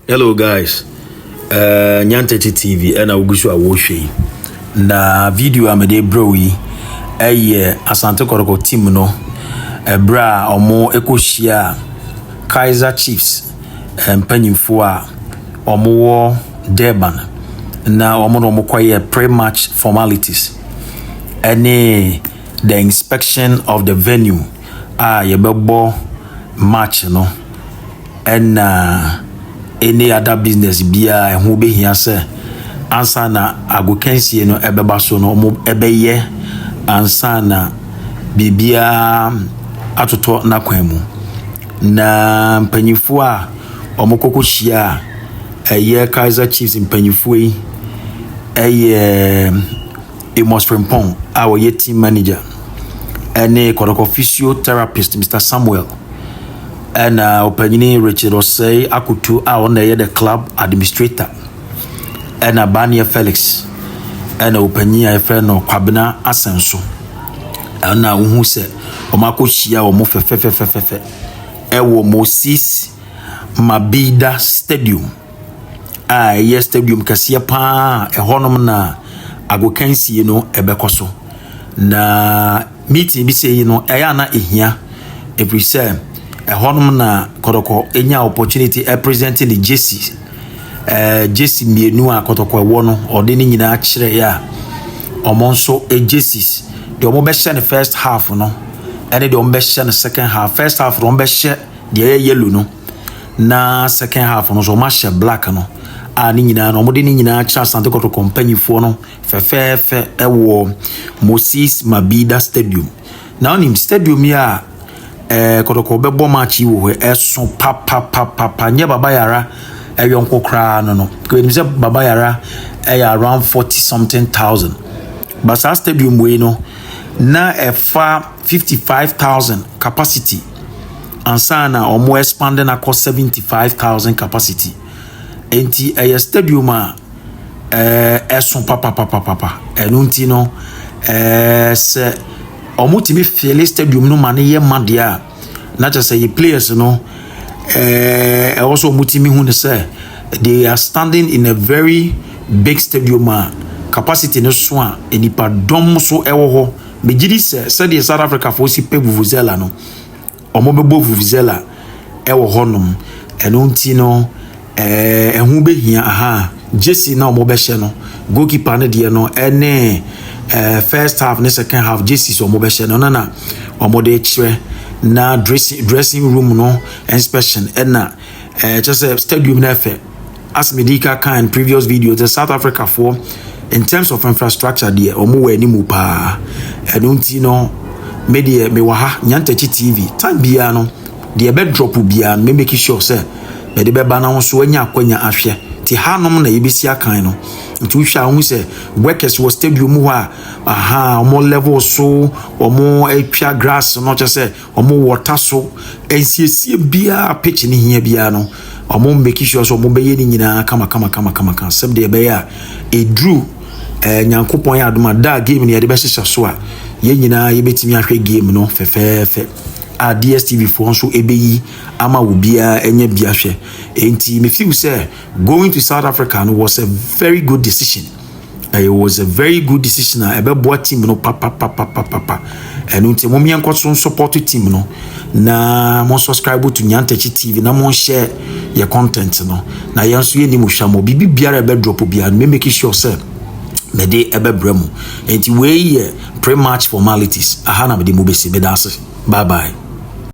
Hello guys, uh, Nyantete TV ɛna wogu so a wɔrehwɛ yi na video a mede brɛ yi ɛyɛ Asante Kɔtɔkɔ team no ɛberɛ a wɔn ɛkɔhyia Kaiser Chiefs mpanyinfoɔ a wɔwɔ Durban na wɔn na wɔkɔyɛ pre-match formalities ɛne the inspection of the venue a yɛbɛbɔ match no ɛna any other business biara ɛho bɛhia sɛ ansa na agokansie no ɛbɛba so no wɔn ɛbɛyɛ ansa na biribiara atotɔ n'akwan mu na mpanyinfoɔ a wɔn kɔkɔ hyia a ɛyɛ kaiser chiefs mpanyinfoɔ yi ɛyɛ. Amos Frimpong a ɔyɛ team manager ne Kɔtɔkɔ physiotherapist Mr Samuel ɛna ɔpanyini Richard Ɔsɛe Akoto a ɔna ɛyɛ the club administrator ɛna Baneɛ Felix ɛna ɔpanyin a yɛfrɛ no Kwabena Asɛnso ɛna wohu sɛ wɔn akɔhyia wɔn fɛfɛfɛfɛfɛ ɛwɔ Moses Mabida Stadium a ɛyɛ stadium kɛseɛ paa a ɛhɔnom na agokansie no ɛbɛkɔ so na meeting bi sɛ yi no ɛyɛ a na ɛhia ɛfiri sɛ ɛhɔnom na kɔtɔkɔ ɛnya opportunity ɛpresente ne gyesi ɛɛ gyesi mmienu a kɔtɔkɔ ɛwɔ no ɔde ne nyinaa kyerɛ yɛ a wɔn nso gyesis deɛ wɔbɛhyɛ no first half no ɛne deɛ wɔbɛhyɛ no second half first half no wɔbɛhyɛ deɛ ɛyɛ yellow no na second half no nso wɔn ahyɛ black no a ne nyinaa no wɔde ne nyinaa kyerɛ asante kɔtɔkɔ mpanyifoɔ no fɛfɛɛfɛ ɛwɔ moses mabida stadium na wɔnim stadium yi a ɛɛ kɔtɔkɔ bɛbɔ match yi wɔ hɔ ɛso papapapapa nyɛ baba yara ɛyɔ nko koraa no no wɔnim sɛ baba yara ɛyɛ around forty something thousand basaa stadium wei no na ɛfa fifty five thousand capacity. ansa na wɔn expand no akɔ seventy five thousand capacity nti ɛyɛ stadium a ɛɛ eh, ɛso papapapapa ɛno nti no ɛɛ eh, sɛ wɔtumi fiele stadium no ma no yɛ ma deɛ a na kyerɛ sɛ yɛ players no ɛɛ eh, ɛwɔ sɛ wɔtumi hu no sɛ they are standing in a very big stadium a capacity no so a nipadɔm so ɛwɔ hɔ Megye di sɛ sɛdeɛ South Africafoɔ si pɛ vuvuzela no, wɔbɛbɔ vuvuzela wɔ hɔnom. Ɛno nti no, eh, ɛho bɛhia aha gyesi na wɔbɛhyɛ no. Goalkeeper no deɛ no ne eh, first half ne second half gyesi sɛ wɔbɛhyɛ no no na wɔde kyerɛ na dressing, dressing room no inspection ɛna eh, kyɛ sɛ stadium no ɛfɛ. As me dii ka kaa in previous videos sɛ South Africa foɔ in terms of infrastructure deɛ wɔn wɔ anim paa ɛno nti no me deɛ me wɔ ha Nyantakyi TV time biara no deɛ ɛbɛ drop biara no me make sure sɛ mede bɛba na wɔn so anya akwanya ahwɛ ti hanom na yɛbɛsi akan no nti wohwɛ a wohu sɛ workers wɔ stadium hɔ a aha wɔn level so wɔn atwa grass no kyɛ sɛ Ɔmo wɔ ɔta so nsiesie biaa a pitch no hia biaa no ɔmo make sure sɛ ɔmo bɛyɛ ne nyinaa kamakamakamakama sɛbdeɛ ɛbɛyɛ a ɛduru eh, Nyankopɔn yɛ adom a da a game no yɛde bɛhyehyɛ so a yɛn nyinaa yɛbɛtumi ahwɛ game no fɛfɛɛfɛ a DSTV foɔ nso ɛbɛyi ama obiaa anya bi ahwɛ. Enti me feel sɛ Going to South Africa no was a very good decision. It was a very good decision a ɛbɛboa team no papapapapapa. Ɛno nti mo mmea nkɔ so support team no na mo subscribe to Nyantakyi TV na mo share yɛ content no na yɛn nso yɛ ni mo hwɛ mo biribi biara ɛbɛ drop biara no me make sure sɛ mede ɛbɛbrɛ mu nti wei yɛ pre-match formalities aha na mede mu bɛsi meda ase bye bye